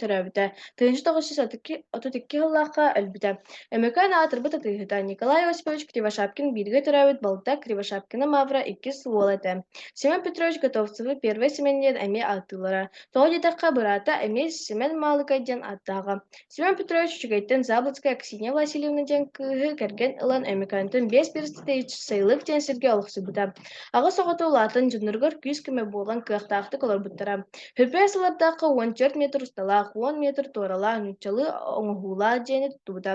Төрөөбүтэ тыһыынча тоҕус жүз отут икки отут икки сыллаахха өлбүтэ. Өймөкөөн аатырбыт атыыһыта Николай Васильевич Кривошапкин бииргэ төрөөбүт балта Кривошапкина Мавра иккис уола этэ. Семен Петрович Готовцевы первый Семен диэн эмиэ ааттыыллара. Тоҕо диэтэххэ, быраата эмиэ Семен Маалыкай диэн ааттааҕа. Семен Петрович үчүгэйтэн Заблоцкая Ксения Васильевна диэн кыыһы кэргэн ылан Өймөкөөнтөн биэс перстэтич сайылык диэн сиргэ олохсуйбута. Аҕыс оҕото улаатан дьонноругар күүс-көмө буолан кыахтаахтык олорбуттара. Хөппө сыллардаахха уон түөрт метр усталаах, уон метр туоралаах нууччалыы оҥоһуулаах дьиэни туттубута.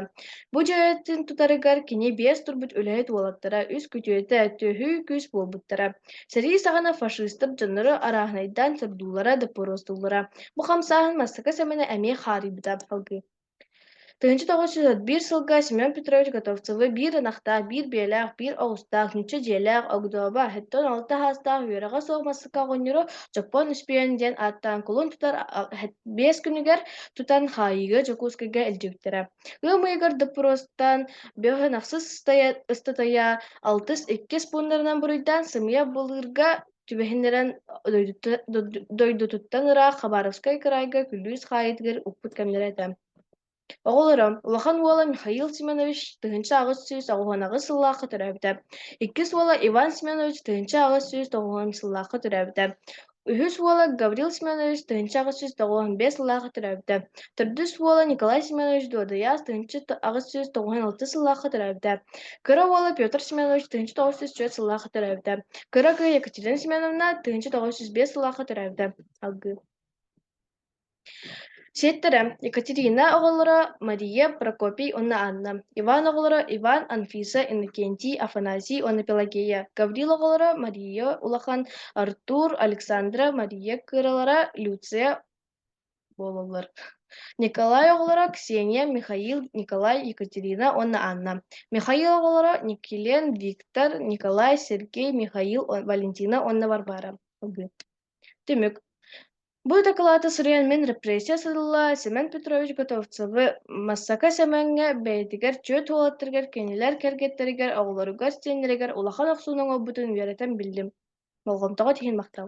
Бу дьиэтин тутарыгар кини биэс турбут үлэһит уолаттара, үс күтүөтэ, төһүү күүс буолбуттара. Сэрии саҕана фашистар дьоннору арааһынайдаан сордуулара, доппуруостууллара. Бу хамсааһын Бастакы Сэмэнэ эмиэ хаарыйбыта салгыы. Тыһыынча тоҕус жүз отут биир сылга Семен Петрович Готовцевы биир ынахтаах, биир биэлээх, биир оҕустаах, нуучча дьиэлээх Огдоба, сэттэ уон алта саастаах үөрэҕэ суох массыына оҕонньоро Дьоппоон Үспүөн диэн ааттаан кулун тутар биэс күнүгэр тутан хаайыыга Дьокуускайга илдьибиттэрэ. Ыам ыйыгар доппуруостан бөһүн ахсыс ыстатыйа алтыс иккис пууннарынан буруйдаан сымыйа былыырга түбэһиннэрэн дойдутуттан ыраах Хабаровскай кыраайга күлүүс хаайыытыгар укпут кэмнэрэ этэ. Оҕолоро улахан уола Михаил Семенович тыһынча аҕыс сүүс оҕуһунаҕыс сыллаахха төрөөбүтэ. Иккис уола Иван Семенович тыһынча аҕыс сүүс тоҕуһун сыллаахха төрөөбүтэ. Үһүс уола Гаврил Семенович тыһынча аҕыс сүүс тоҕуһун бэс сыллаахха төрөөбүтэ. Төрдүс уола Николай Семенович дуодуйаас тыһыынча аҕыс сүүс тоҕуһун алтыс сыллаахха төрөөбүтэ. Кыра уола Петр Семенович тыһыынча тоҕус сүүс түөрт сыллаахха төрөөбүтэ. Кыра кыыс Екатерина Семеновна тыһыынча тоҕус сүүс биэс сыллаахха төрөөбүтэ. Алгыы Сиэттэрэ Екатерина оҕолоро Мария Прокопий уонна Анна, Иван оҕолоро Иван, Анфиса, Иннокентий, Афанасий уонна Пелагея, Гаврил оҕолоро Мария улахан, Артур, Александра, Мария кыралара, Люция буолаллар. Николай оҕолоро Ксения, Михаил, Николай, Екатерина уонна Анна. Михаил оҕолоро Никелен, Виктор, Николай, Сергей, Михаил, Валентина уонна Варвара. Түмүк. Бу дакылааты суруйан мин репрессия сытылла Семен Петрович Готовцевы Массака Семеҥҥэ бэйэтигэр чүөт уолаттарыгар кинилэр кэргэттэригэр оҕолоругар сиэннэригэр улахан охсууну оҥорбутун үөрэтэн биллим. Болҕомтоҕо тиһин махтал